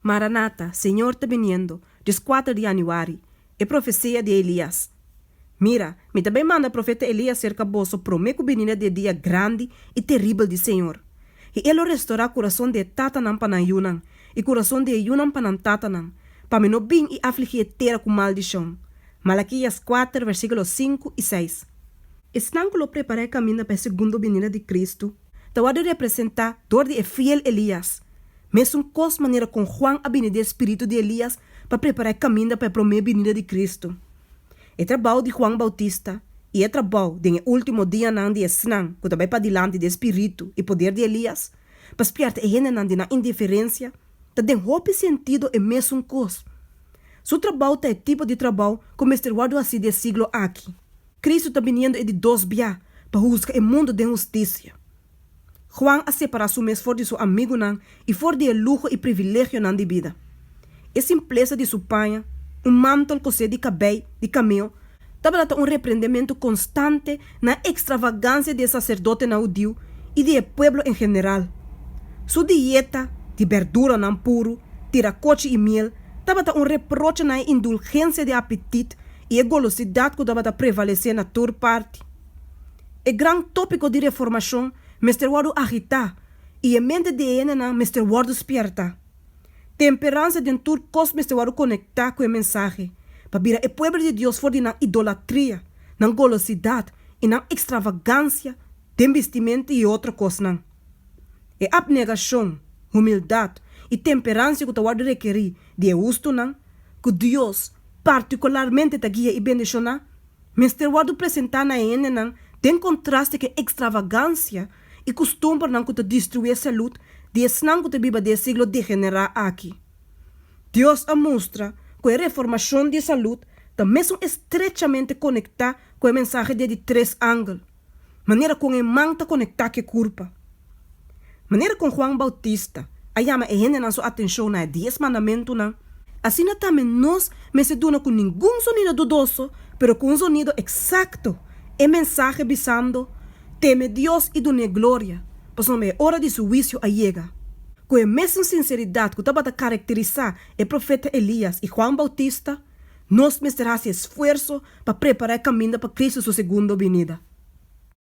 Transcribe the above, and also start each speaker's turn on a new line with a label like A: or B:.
A: Maranata, Señor ta biniendo, Dios kuater di Januari, E profesia di Elias Mira, mi ta bai manda profeta Elias serka boso promé ku bininda di e dia grandi i teribel di Señor. I e lo restorá kurason di e tatanan pa nan yunan, i kurason di e yunan pa nan tatanan, pa mi no bin i afligí e tera ku maldishon. Malakias kuater versíkulo sinku i seis. Esnan ku lo prepará e kaminda pa e segundo bininda di Kristu ta wòrdu representá dor di e fiel Elias. Mesun kos manera kon Huan a bini di e spiritu di Elias pa prepará e kaminda pa e promé binida di Kristu. E trabou di Huan Bautista i e trabou den e último dianan di esnan ku ta bai padilanti di e spiritu i poder di Elias pa spièrta e hendenan di nan indiferensia ta den hopi sentido e mesun kos. Su trabou ta e tipo di trabou ku mester wòrdu hasí di e siglo aki. Kristu ta biniendo e di dos biaha pa husga e mundu den hustisia. Juan a separá su mes for di su amigunan i for di e luho i privilegionan di bida. E simplesa di su paña, un mántel kosé di kabei di kameo, tabata ta un reprendementu konstante na e ekstravagansia di e saserdotenan hudiu i di e pueblo en general. Su dieta di berduranan puru, tira kochi i miel, tabata un reproche na e indulgensia di apetit i e golosidat ku tabata prevalesé na tur parti. E gran tópiko di reformashon mester wòrdu agitá i e mente di e hendenan mester wòrdu spièrta. Temperansa den tur kos mester wòrdu konektá ku e mensahe pa bira e pueblo di Dios for di nan idolatria, nan golosidat i nan ekstravagansia den bistimenta i e otro kosnan. E apnegashon, humildat i temperansha ku ta wòrdu rekerí di e hustunan, ku Dios partikularmente ta guia i bendishona, Mester wòrdu presentá na e hendenan den kontraste ku e ekstravagansia i kustumbernan ku ta destruí e salùt di esnan ku ta biba den e siglo degenerá aki. Dios a mustra ku e reformashon di e salùt ta mesun estrechamente konektá ku e mensahe di e di tres angel. manera kon e man ta konektá ku e kurpa. Manera kon Juan Boutista a yama e hendenan su atenshon na e Dies Mandamentunan, asina tambe nos mester duna ku ningun sonido dudoso, pero ku un sonido eksakto, e mensahe bisando, Teme Dios i dun'é gloria, pasobra e ora di su huisio a yega. Ku e mesun sinseridat ku tabata karakterisá e profeta Elias i Juan Boutista, Nos mester hasi esfuerso pa prepará e kaminda pa Kristu su segundo binida.